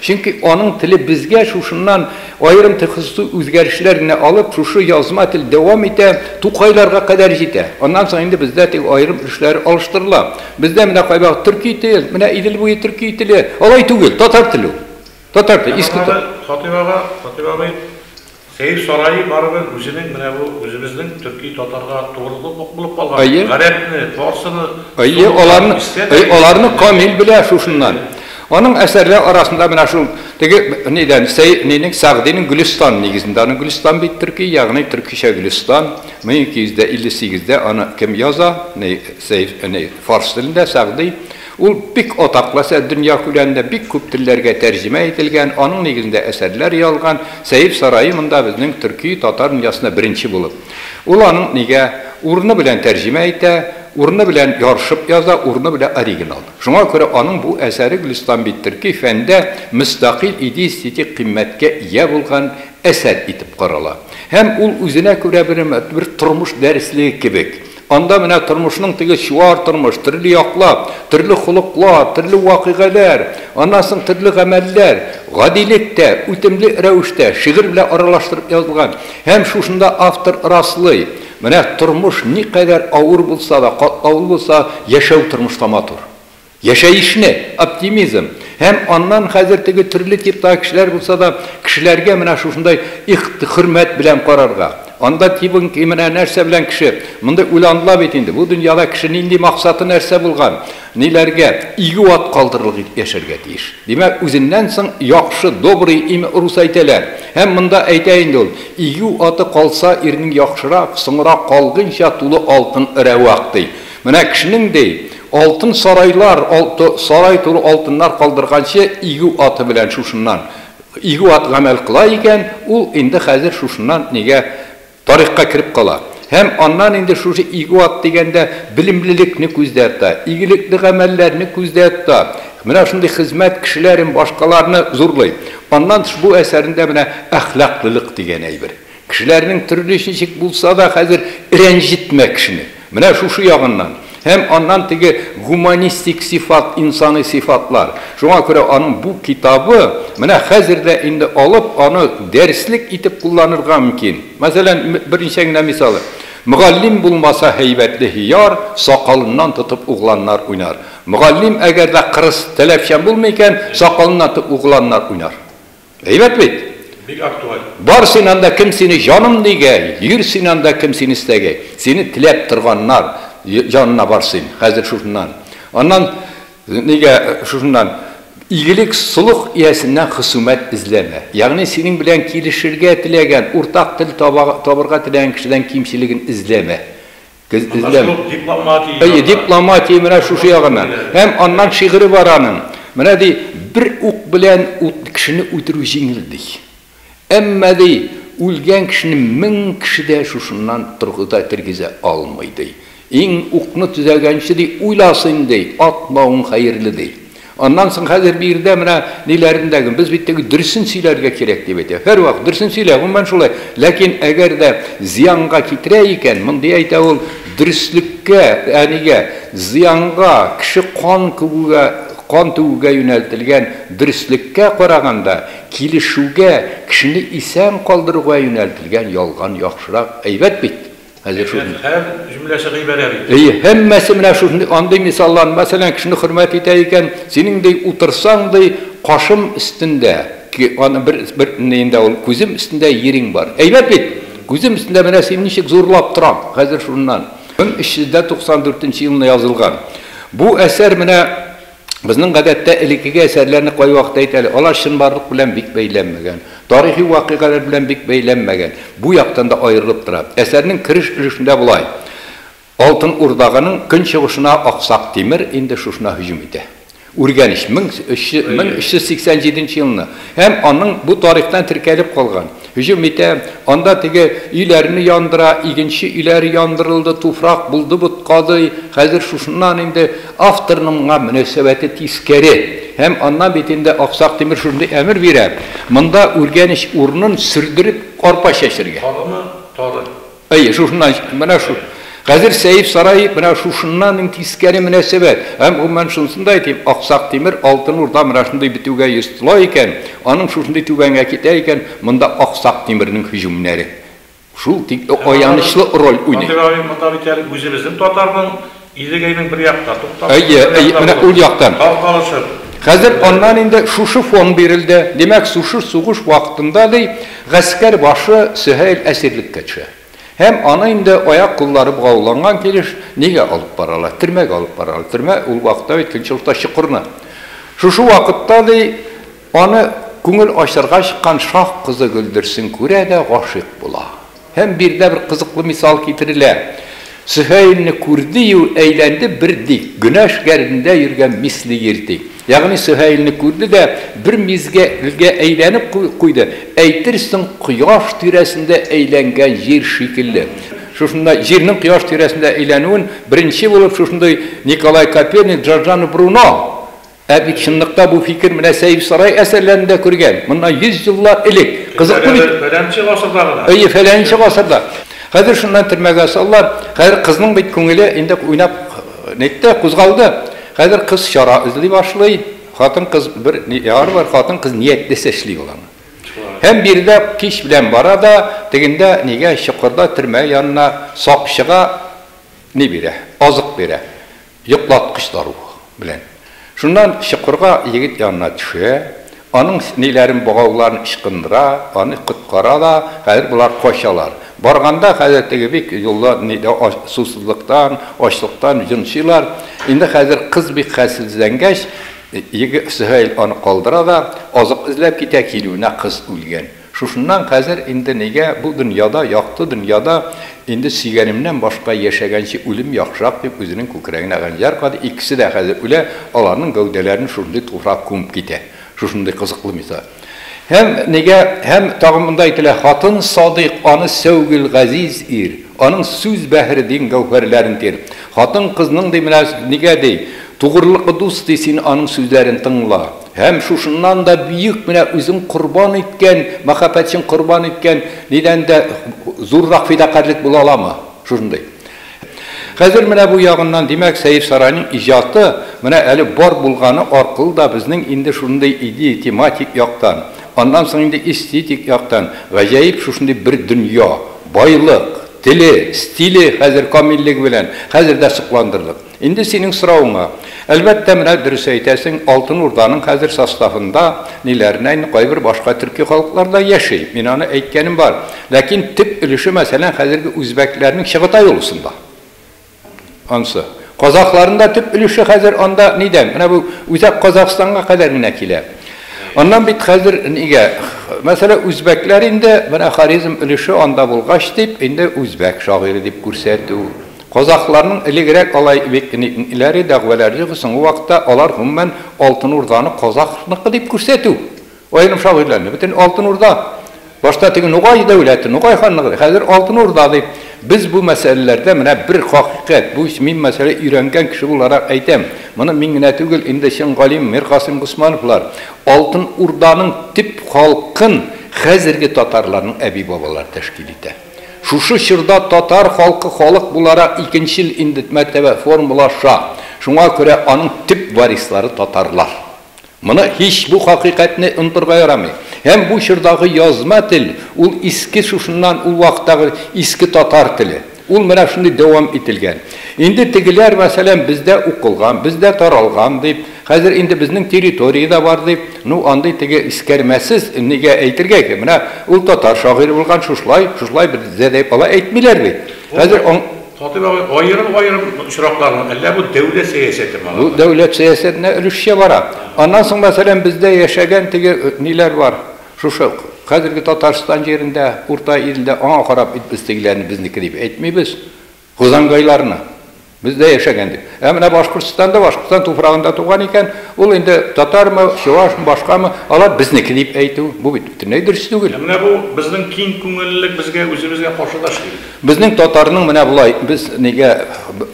Чөнки аның теле безгә шушыннан аерым тхсусый үзгәрешләр генә алып, шушы язма тел дәвам итә, Тукайларга кадәр җитә. Аннан соң инде бездә теге аерым өлешләре алыштырыла. Бездә менә кайвакыт төрки тел, менә Идел буе төрки теле. Алай түгел, татар теле ул. Татар теле, иске татар. Фатыйма апа, Фатыйма абый. Сәер сарае барыбер үзенең менә бу үзебезнең төрки татарга тугрылык ук булып калган бит. Гарәпне, фарсыны, сумлыкларны истә дә юк. Аларны Камил белә шушыннан. Аның әсәрләре арасында менә шул теге нидән, Сәер нинең, Сәгъдинең Гөлестан нигезендә. Аның Гөлестан бит төрки, ягъни төркичә Гөлестан. 1258 дә аны кем яза? Сәер, фарс телендә, Сәгъди. Ул бик атаклы әсәр, дөнья күләмендә бик күп телләргә тәрҗемә ителгән, аның нигезендә әсәрләр язган Сәер сарае монда безнең төрки татар дөньясында беренче булып. Ул аның нигә урыны белән тәрҗемә итә, урыны белән ярышып яза, урыны белән оригинал. Шуңа күрә аның бу әсәре Гөлистан бит төрки фәндә мөстәкыйль иде-эстетик кыйммәткә ия булган әсәр итеп карала. Һәм ул үзенә күрә бер бер тормыш дәреслеге кебек. Анда менә тормышның теге чуар тормыш, төрле яклап, төрле холыклар, төрле вакыйгаләр, аннан соң төрле гамәлләр, гадилек тә үтемле рәвештә шигырь белән аралаштырып язылган. Һәм шушында автор раслый, менә тормыш никадәр авыр булса да, катлаулы булса, яшәү тормышта матур. Яшәешне, оптимизм һәм аннан хәзер теге төрле типтагы кешеләр булса да, кешеләргә менә шушындай ихт, хөрмәт белән карарга. Анда тибың ки, менә нәрсә белән кеше, мондый уйланыла бит инде, бу дөньяда кеше нинди максаты нәрсә булган, ниләргә, игү ат калдырырлык итеп яшәргә тиеш. Димәк, үзеннән соң яхшы, добрый имя урус әйтәләр. Һәм монда әйтә инде ул, Игү аты калса, ирнең яхшырак, соңрак калгыйнча тулы алтын рәвак, ди. Менә кешенең, ди, Алтын сарайлар, сарай тулы алтыннар калдырганчы, игү аты белән шушыннан, игү ат гамәл кыла икән, ул инде хәзер шушыннан нигә тарихка кереп кала. Һәм аннан инде шушы игү ат дигәндә белемлелекне күздә тота, игелекле гамәлләрне күздә тота, менә шундый хезмәт кешеләрен, башкаларны зурлый. Аннан тыш бу әсәрендә менә әхлаклылык дигән әйбер. Кешеләрнең төрле ничек булса да хәзер рәнҗетмә кешене. Менә шушы ягыннан. Һәм аннан теге гуманистик сыйфат, инсаный сыйфатлар. Шуңа күрә аның бу китабы менә хәзер дә инде алып аны дәреслек итеп кулланырга мөмкин. Мәсәлән, берничә генә мисалы. Мөгаллим булмаса һәйбәтле һөяр, сакалыннан тотып угланнар уйнар. Мөгаллим әгәр дә кырыс, таләпчән булмый икән, сакалыннан тотып угланнар уйнар. Әйбәт бит? Бик актуаль. Бар син анда кем сине җаным дигәй, йөр син анда кем сине истәгәй. Сине теләп торганнар янына бар син, хәзер шушыннан. Аннан нигә шушыннан игелек солых иясеннән хысумәт эзләмә. Ягъни синең белән килешергә теләгән, уртак тел табырга теләгән кешедән кимчелеген эзләмә. Эзләм. Әйе, дипломатия менә шушы ягыннан. Һәм аннан шигыре бар аның. Менә ди, бер ук белән кешене үтерү җиңел, ди. Әмма, ди, үлгән кешене мең кеше дә шушыннан торгыза, тергезә алмый, ди. Иң укны төзәгәнче, ди, уйласын, ди, атмавың хәерле, ди. Аннан соң хәзер биредә менә ниләрен дә, без бит теге дөресен сөйләргә кирәк дип әйтә. Һәрвакыт дөресен сөйлә, гомумән шулай. Ләкин әгәр дә зыянга китерә икән, мондый әйтә ул, дөреслеккә, әнигә, зыянга, кеше кан күгүгә, кан түгүгә юнәлтелгән дөреслеккә караганда, килешүгә, кешене исән калдыруга юнәлтелгән ялган яхшырак, әйбәт бит. Хәзер шул. Әйдә, һәр җөмләсе гыйбарә бит. Әйе, һәммәсе менә шушындый, андый мисаллар, мәсәлән, кешене хөрмәт итә икән, синең, ди, утырсаң, ди, кашым өстендә, ки, аны бер, бер, ни инде ул, күзем өстендә йириң бар. Әйбәт бит! Күзем өстендә менә син ничек зурлап тораң, хәзер шуннан. 1394 нче елны язылган. Бу әсәр менә. Безнең гадәттә элеккеге әсәрләрне кайвакыт әйт әле, алар чынбарлык белән бик бәйләнмәгән, тарихи вакыйгалар белән бик бәйләнмәгән, бу яктан да аерылып тора. Әсәрнең кереш өлешендә болай, Алтын Урдаганың көнчыгышына Аксак Тимер инде шушына һөҗүм итә. Үргәнеч, 1387 елны, һәм аның бу тарихтан теркәлеп калган. Һөҗүм итә, анда теге өйләрне яндыра, игенче өйләре яндырылды, туфрак булды боткадый, хәзер шушыннан инде авторның моңа мөнәсәбәте тискәре. Һәм аннан бит инде Аксак Тимер шундый әмер бирә, монда үргәнеч урынын сөрдереп арпа чәчергә. Тарыны тары. Әйе, шушыннан чыкты. Менә шул. Хәзер Сәйф сарае менә шушыннан иң тискәре мөнәсәбәт. Һәм, гомумән, шунысын да әйтим, Аксак Тимер, Алтын Урда менә шундый бетүгә йөз тола икән, аның шушындый түбәнгә китә икән, монда Аксак Тимернең һөҗүмнәре шул тикле аянычлы роль уйный. Андыйрак юк монда бит әле үзебезнең татарның Идегәйнең бер якта, тукталышып, бер якта булды. Әйе, менә ул яктан. Калкалышып. Хәзер аннан инде шушы фон бирелде. Димәк, сушы сугыш вакытында, ди, гаскәр башы Сөһәйл әсирлеккә төшә. Һәм аны инде аяк-куллары богауланган килеш нигә алып баралар? Төрмәгә алып баралар. Төрмә ул вакытта бит көнчыгышта чокырны. Шушы вакытта, ди, Аны күңел ачарга чыккан шаһ кызы Гөлдерсен күрә дә гашыйк була. Һәм биредә бер кызыклы мисал китерелә. Сөһәйлне күрде-ю, әйләнде бер дик, гөнәш гәрдендә йөргән мисли ир ди. Ягъни Сөһәйлне күрде дә, бер мизгелгә әйләнеп куйды, әйтерсең кояш тирәсендә әйләнгән җир шикелле. Шушында җирнең кояш тирәсендә әйләнүен беренче булып шушындый Николай Коперник, Джорджано Бруно Ә бит чынлыкта бу фикер менә Сәифсарай әсәрләрендә күргән, моннан йөз еллар элек. Кызыклы бит. Фәләнче гасырда гына. Әйе, фәләнче гасырда. Хәзер шуннан төрмәгә салалар. Хәзер кызның бит күңеле инде уйнап нитте, кузгалды. Хәзер кыз чара эзли башлый. Хатын-кыз бер яр бар, хатын-кыз ниятлесе эшли ул аны. Һәм биредә кич белән бара да, тегендә нигә чокырда төрмә янына сакчыга ни бирә, азык бирә. Йоклаткычлар белән. Шуннан чокырга егет янына төшә, аның сниләрен, богауларын ычкындыра, аны коткара да, хәзер болар качалар. Барганда хәзер теге бик юлда нидә сусызлыктан, ачлыктан йончыйлар. Инде хәзер кыз бик хәлсезләнгәч, егет Сөһәйл аны калдыра да азык эзләп китә, килүенә кыз үлгән. Шушыннан хәзер инде нигә бу дөньяда, якты дөньяда инде сөйгәнемнән башка яшәгәнче үлим яхшырак дип үзенең күкрәгенә хәнҗәр кадый, икесе дә хәзер үлә, аларның гәүдәләрен шушындый туфрак күмеп китә. Шушындый кызыклы мисал. Һәм нигә, һәм тагын монда әйтелә, хатын садыйк, аны сәүгел, газиз ир, аның сүз бәһре дин гәүһәрләрен тир. Хатын кызның ди менә нигә ди, тугрылыклы дус ди син аның сүзләрен тыңла. Һәм шушыннан да бөек менә үзен корбан иткән, мәхәббәтчен корбан иткән нидән дә зуррак фидакарьлек була аламы? Шушындый. Хәзер менә бу ягыннан, димәк, Сәер Сарайның иҗаты менә әле бар булганы аркылы да безнең инде шушындый иди, тематик яктан, аннан соң инде эстетик яктан гаҗәеп шушындый бер дөнья, байлык, теле, стиле хәзер камиллеге белән хәзер дә сокландырдык. Инде синең соравыңа. Әлбәттә, менә дөрес әйтәсең, Алтын Урданың хәзер составында ниләренә инде кайбер башка төрки халыклар да яши. Мин аны әйткәнем бар. Ләкин төп өлеше, мәсәлән, хәзерге үзбәкләрнең Чыгытай олысында. Ансы. Казахларның да төп өлеше хәзер анда нидән? Менә бу үзәк Казахстанга кадәр генә килә. Аннан бит хәзер нигә? Мәсәлән, үзбәкләр инде, менә Хорезм өлеше анда булгач дип, инде үзбәк шагыйре дип күрсәтү. Казахларның элегрәк алай бик ниләре, дәгъвәләре иде, соңгы вакытта алар, гомумән, Алтын Урданы казахныкы дип күрсәтү. Аерым шагыйрьләрне, бөтен Алтын Урда, башта теге Нугай дәүләте, Нугай ханлыгы иде, хәзер Алтын Урда ди. Без бу мәсьәләләрдә менә бер хакыйкать, бу мин мәсьәлә өйрәнгән кеше буларак әйтәм, моны мин генә түгел, инде чын галим Миркасыйм Госмановлар Алтын Урданың төп халкын хәзерге татарларның әби-бабалары тәшкил итә. Шушы чорда татар халкы халык буларак икенчел индет мәртәбә формалаша, шуңа күрә аның төп варислары татарлар. Моны һич бу хакыйкатьне онтырга ярамый. Һәм бу чордагы язма тел, ул иске шушыннан ул вакыттагы иске татар теле. Ул менә шундый дәвам ителгән. Инде тегеләр мәсәлән бездә укылган, бездә таралган дип, Хәзер инде безнең территория дә бар, дип, ну, андый теге искәрмәсез, нигә әйтергә икән, менә ул татар шагыйре булган, шушлай, шушлай бездә дип алай әйтмиләр бит. Хәзер аң. Хатыйп абый, аерым-аерым очраклармы, әллә бу дәүләт сәясәтеме аларда? Бу дәүләт сәясәтенә өлешчә бара. Аннан соң, мәсәлән, бездә яшәгән теге ниләр бар, шушы хәзерге Татарстан җирендә, Урта илдә, аңа карап бит без тегеләрне безнеке дип әйтмибез. Козангайларны без дә яшәгән дип. Ә менә Башкортстанда, Башкортстан туфрагында туган икән, ул инде татармы, чувашмы, башкамы, алар безнеке дип әйтү, бу бит бөтенләй дөрес түгел. Ә менә бу безнең киң күңеллелек безгә үзебезгә каршы да эшли бит. Безнең татарның менә болай, без нигә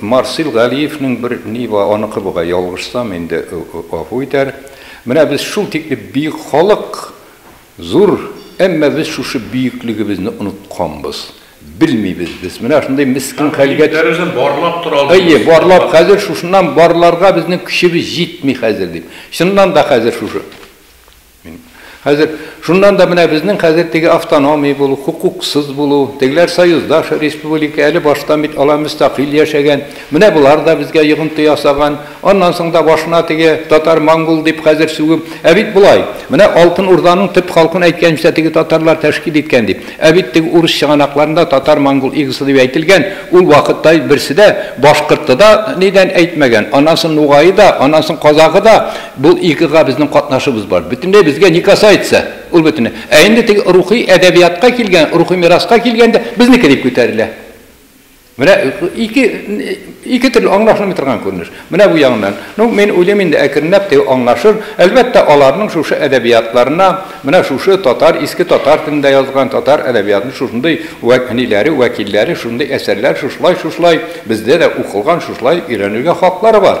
Марсил Галиевнең бер ни бар, аныкы бугай, ялгышсам инде гафу итәр. Менә без шул тикле бөек халык. Зур, әмма без шушы бөеклегебезне онытканбыз. Белмибез без, менә шундый мескен хәлгә. Һәм бөекләребезне барлап тора алмыйбыз. Әйе, барлап, хәзер шушыннан барларга безнең көчебез җитми хәзер, дип. Чыннан да хәзер шушы. Мин. Хәзер, шуннан да менә безнең хәзер теге автономия булу, хокуксыз булу, тегеләр союздаш республика, әле баштан бит алар мөстәкыйль яшәгән, менә болар да безгә йогынты ясаган, Аннан соң да башына теге, татар, монгол дип хәзер сүгеп, Ә бит болай! Менә Алтын Урданың төп халкын әйткәнчә теге татарлар тәшкил иткән дип. Ә бит теге урыс чыганакларында татар, монгол игысы дип әйтелгән, ул вакытта берсе дә башкорты да нидән әйтмәгән, аннан соң нугае да, аннан соң казагы да, бу игыга безнең катнашыбыз бар. Бөтенләй безгә не касается ул бөтенләй. Ә инде теге рухи әдәбиятка килгән, рухи мираска килгәндә, безнеке дип күтәрелә. Менә ике ике төрле аңлашылмый торган күренеш. Менә бу ягыннан. Ну, мин уйлыйм инде әкренләп теге аңлашыр. Әлбәттә, аларның шушы әдәбиятларына, менә шушы татар, иске татар телендә язылган татар әдәбиятының шушындый вәкниләре, вәкилләре, шушындый әсәрләр шушылай-шушылай бездә дә укылган, шушылай өйрәнергә хаклары бар.